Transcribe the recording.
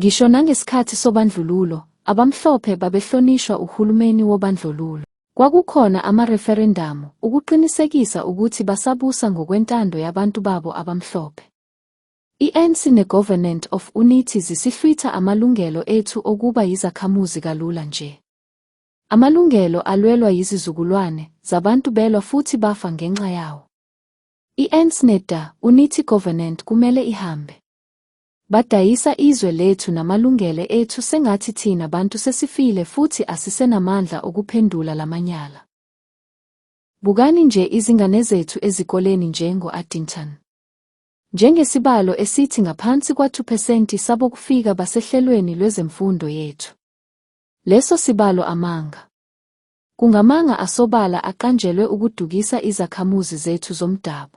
Ngisho nangesikhathi sobandlululo, abamhlophe babehlonishwa uhulumeni wobandlululo. Kwakukhona amareferendamu ukuqinisekisa ukuthi basabusa ngokwentando yabantu babo abamhlophe. I-ANC ne-Government of Unity zisihlwitha amalungelo ethu okuba yizakhamuzi kalula nje. Amalungelo alwelwa yizizukulwane zabantu belwa futhi bafa ngenxa yawo. I-ANC ne-DA, Unity Government kumele ihambe. Badayisa izwe lethu namalungele ethu sengathi thina bantu sesifile futhi asisenamandla okuphendula lamanyala. Bukani nje izingane zethu ezikoleni njengo Addington. Njengesibalo esithi ngaphansi kwa-2 phesenti sabokufika basehlelweni lwezemfundo yethu. Leso sibalo amanga. Kungamanga asobala aqanjelwe ukudukisa izakhamuzi zethu zomdabu.